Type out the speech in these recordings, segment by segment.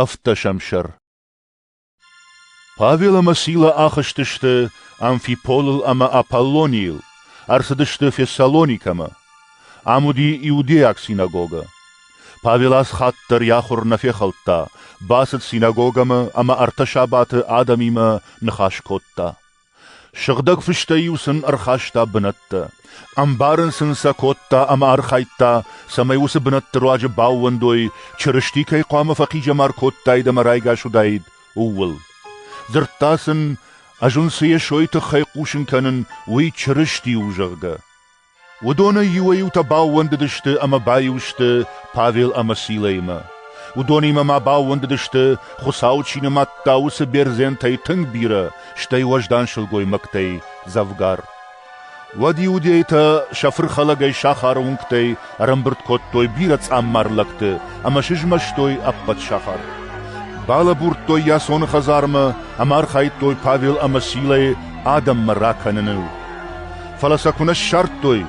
Ӕвддӕсӕмсӕр Павел ӕмӕ Сила ахызтысты Амфиполыл ӕмӕ Аполлонийыл, ӕрцыдысты Фессалоникӕмӕ. Ам уыди иудейаг синагогӕ. Павел аз хатт дӕр йӕ ахуыр нӕ фехӕлдта, бацыд синагогӕмӕ ӕмӕ ӕртӕ сабаты адӕмимӕ ныхас кодта. Сыгъдӕг фыстӕй-иу сын ӕрхаста бынӕттӕ, ӕмбарын сын сӕ кодта ӕмӕ архайдта, цӕмӕй уыцы бынӕтты руаджы баууӕндой, Чырысти кӕй хъуамӕ фӕхъизӕмар кодтаид ӕмӕ райгас уыдаид, ууыл. Дзырдта сын, ӕз уын цы Йесойы тыххӕй хъусын кӕнын, уый Чырысти у, зӕгъгӕ. Уыдонӕй иуӕй-иутӕ баууӕндыдысты ӕмӕ баиу сты Павел ӕмӕ Силӕимӕ. Уыдонимӕ ма баууӕндыдысты, Хуыцау чи нымадта, уыцы бердзентӕй тынг бирӕ, стӕй уӕздан сылгоймӕгтӕй дзӕвгар. Уӕд иудейтӕ сӕ фырхӕлӕгӕй сахары уынгтӕй ӕрӕмбырд кодтой бирӕ цъаммар лӕгты ӕмӕ сызмӕстой ӕппӕт сахар. Балӕбурдтой йӕ цоны хӕдзармӕ ӕмӕ архайдтой Павел ӕмӕ Силӕйы адӕммӕ ракӕныныл. фӕлӕ сӕ куы нӕ ссардтой,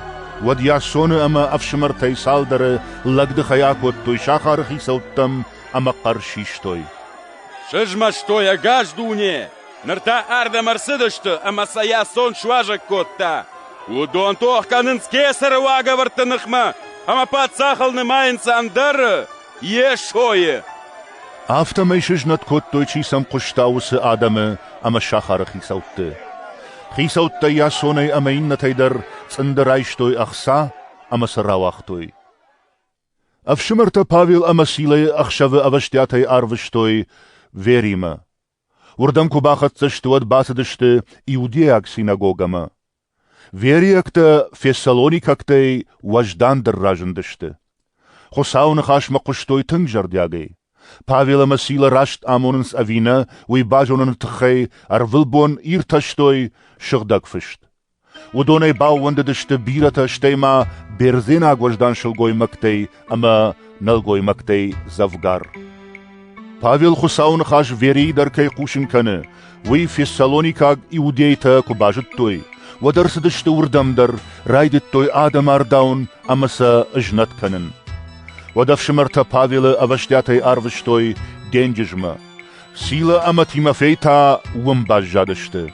уӕд Ясоны ӕмӕ ӕфсымӕртӕй цалдӕры лӕгдыхӕй акодтой сахары хицӕуттӕм ӕмӕ хъӕр систой. «Сызмӕстой ӕгас дуне! Ныр та ардӕм ӕрцыдысты ӕмӕ сӕ Ясон суазӕг кодта! Уыдон тох кӕнынц кесӕры уагӕвӕрдты ныхмӕ ӕмӕ паддзахыл нымайынц ӕндӕры!» Йесойы. Афтӕмӕй сызнӕт кодтой, чи сӕм хъуыста, уыцы адӕмы ӕмӕ сахары хицӕутты. Хицӕуттӕ Ясонӕй ӕмӕ иннӕтӕй дӕр цъынды райстой ӕхца ӕмӕ сӕ рауагътой. Ӕфсымӕртӕ Павел ӕмӕ Силӕйы ӕхсӕвы ӕвӕстиатӕй арвыстой Веримӕ. Уырдӕм куы бахӕццӕ сты, уӕд бацыдысты Иудейаг синагогӕмӕ. Вериӕгтӕ фессалоникӕгтӕй уӕздандӕр разындысты. Хуыцауы ныхасмӕ хъуыстой тынг зӕрдиагӕй. Павел ӕмӕ Сила раст амонынц ӕви нӕ, уый базоныны тыххӕй ӕрвылбон иртӕстой сыгъдӕг фыст. Уыдонӕй баууӕндыдысты бирӕтӕ, стӕй ма бердзенаг уӕздан сылгоймӕгтӕй ӕмӕ нӕлгоймӕгтӕй дзӕвгар. Павел Хуыцауы ныхас Верийы дӕр кӕй хъусын кӕны, уый фессалоникаг иудейтӕ куы базыдтой, уӕд ӕрцыдысты уырдӕм дӕр, райдыдтой адӕмы ардауын ӕмӕ сӕ ызнӕт кӕнын. Уӕд ӕфсымӕртӕ Павелы ӕвӕстиатӕй арвыстой денджызмӕ. Сила ӕмӕ Тимофей та уым баззадысты.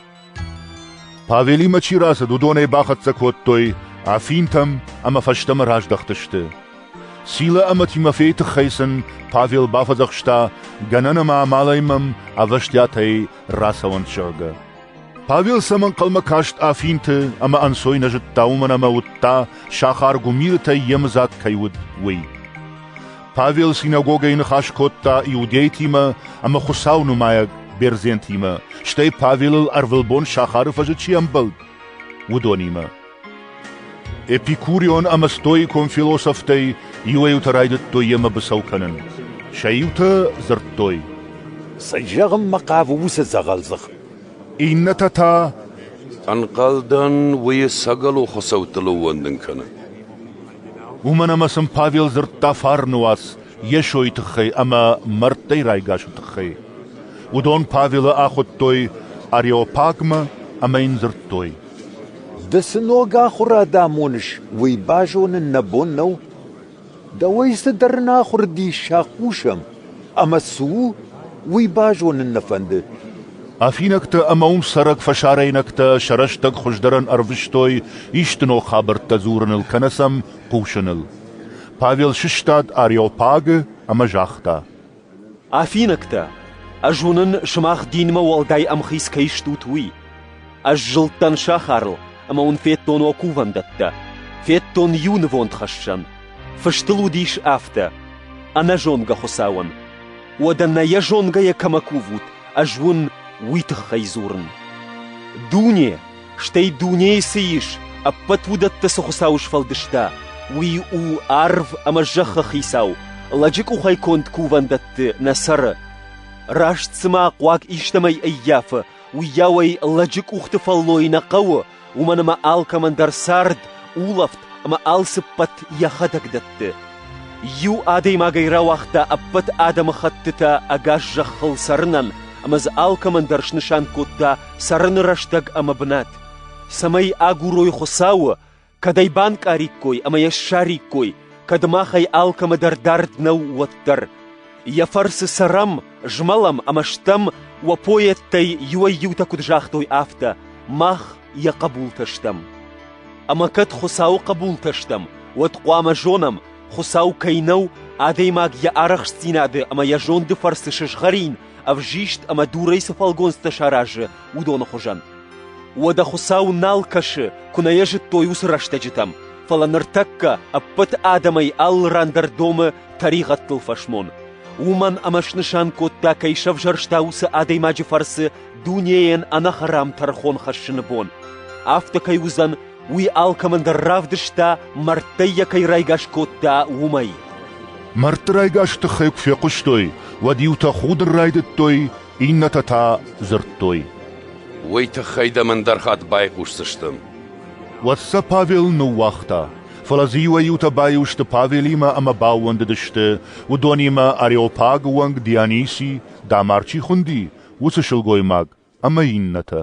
Павелимӕ чи рацыд, уыдонӕй бахӕццӕ кодтой Афинтӕм ӕмӕ фӕстӕмӕ раздӕхтысты. Силӕ ӕмӕ Тимофейы тыххӕй сын Павел бафӕдзӕхста, гӕнӕн ӕмӕ амалӕй мӕм ӕвӕстиатӕй рацӕуӕнт, зӕгъгӕ. Павел сӕм ӕнхъӕлмӕ каст Афинты ӕмӕ ӕнцой нӕ зыдта, уымӕн ӕмӕ уыдта, сахар гуымирытӕй йемыдзаг кӕй уыд, уый. Павел синагогӕйы ныхас кодта иудейтимӕ ӕмӕ Хуыцау нымайӕг бердзентимӕ, стӕй Павелыл ӕрвылбон сахары фӕзы чи ӕмбӕлд, уыдонимӕ. Эпикурион ӕмӕ стоикон философтӕй иуӕй-иутӕ райдыдтой йемӕ быцӕу кӕнын. Сӕ иутӕ дзырдтой, Цы зӕгъынмӕ хъавы уыцы дзӕгъӕлдзых? Иннӕтӕ та, Ӕнхъӕлдӕн, уый сӕгӕлу хуыцӕуттыл ӕууӕндын кӕны. Уымӕн ӕмӕ сын Павел дзырдта фарны уац Йесойы тыххӕй ӕмӕ мӕрдтӕй райгасы тыххӕй. Уыдон Павелы ахуыдтой Ареопагмӕ ӕмӕ йын дзырдтой: «Ды цы ног ахуыр адӕм уыныс, уый базонын нӕ бон нӕу? Дӕуӕй цыдӕр нӕ ахуыр дис сӕ хъусӕм. Ӕмӕ цы у, уый базонын нӕ фӕнды. Афинӕгтӕ ӕмӕ уым цӕрӕг фӕсарӕйнӕгтӕ сӕ рӕстӕг хуыздӕрӕн ӕрвыстой исты ног хабӕрттӕ дзурыныл кӕнӕ сӕм хъусыныл. Павел сыстад Ареопагы ӕмӕ загъта: «Афинӕгтӕ, ӕз уынын, сымах динмӕ уӕлдай ӕмхиц кӕй стут, уый. Ӕз зылдтӕн сахарыл, ӕмӕ уын федтон уӕ кувӕндӕттӕ, федтон иу нывондхӕссӕн, Фыстыл уыдис афтӕ: Ӕнӕзонгӕ Хуыцауӕн. Уӕдӕ нӕ йӕ зонгӕйӕ кӕмӕ кувут, ӕз уын уый тыххӕй дзурын. Дуне, стӕй дунейы цы ис, ӕппӕт уыдӕттӕ цы Хуыцау сфӕлдыста, уый у арв ӕмӕ зӕххы хицау, лӕджы къухӕй конд кувӕндӕтты нӕ цӕры. Раст цыма хъуаг истӕмӕй ӕййафы, уыйауӕй лӕджы къухты фӕллой нӕ хъӕуы, уымӕн ӕмӕ алкӕмӕн дӕр цард, улӕфт ӕмӕ алцыппӕт йӕхӕдӕг дӕтты. Иу адӕймагӕй рауагъта ӕппӕт адӕмыхӕттытӕ ӕгас зӕххыл цӕрынӕн ӕмӕ дзы алкӕмӕн дӕр снысан кодта цӕрыны рӕстӕг ӕмӕ бынат, цӕмӕй агурой Хуыцауы, кӕд ӕй банкъариккой ӕмӕ йӕ ссариккой, кӕд махӕй алкӕмӕ дӕр дард нӕу, уӕддӕр. Йӕ фӕрцы цӕрӕм, змӕлӕм ӕмӕ стӕм, уӕ поэттӕй иуӕй-иутӕ куыд загътой, афтӕ: мах йӕ хъӕбултӕ стӕм. Ӕмӕ кӕд Хуыцауы хъӕбултӕ стӕм, уӕд хъуамӕ зонӕм, Хуыцау кӕй нӕу, адӕймаг йӕ арӕхстдзинады ӕмӕ йӕ зонды фӕрцы сызгъӕрин, ӕвзист ӕмӕ дурӕй цы фӕлгонцтӕ саразы, уыдоны хуызӕн. Уӕдӕ Хуыцау нал кӕсы, куы нӕ йӕ зыдтой уыцы рӕстӕджытӕм, фӕлӕ ныртӕккӕ ӕппӕт адӕмӕй алы ран дӕр домы тӕригъӕдтыл фӕсмон, уымӕн ӕмӕ снысан кодта, кӕй сӕвзӕрста уыцы адӕймаджы фӕрцы дунейӕн ӕнӕхӕрам тӕрхон хӕссыны бон. Афтӕ кӕй уыдзӕн, уый алкӕмӕн дӕр равдыста, мӕрдтӕй йӕ кӕй райгас кодта, уымӕй. Мӕрдты райгас тыххӕй куы фехъуыстой, уӕд иутӕ худын райдыдтой, иннӕтӕ та дзырдтой. Уый тыххӕй дӕм ӕндӕр хатт байхъусдзыстӕм. Уӕд сӕ Павел ныууагъта. Фӕлӕ дзы иуӕй-иутӕ баиу сты Павелимӕ ӕмӕ баууӕндыдысты, уыдонимӕ Ареопагы уӕнг Диониси, дамар чи хуынди, уыцы сылгоймаг ӕмӕ иннӕтӕ.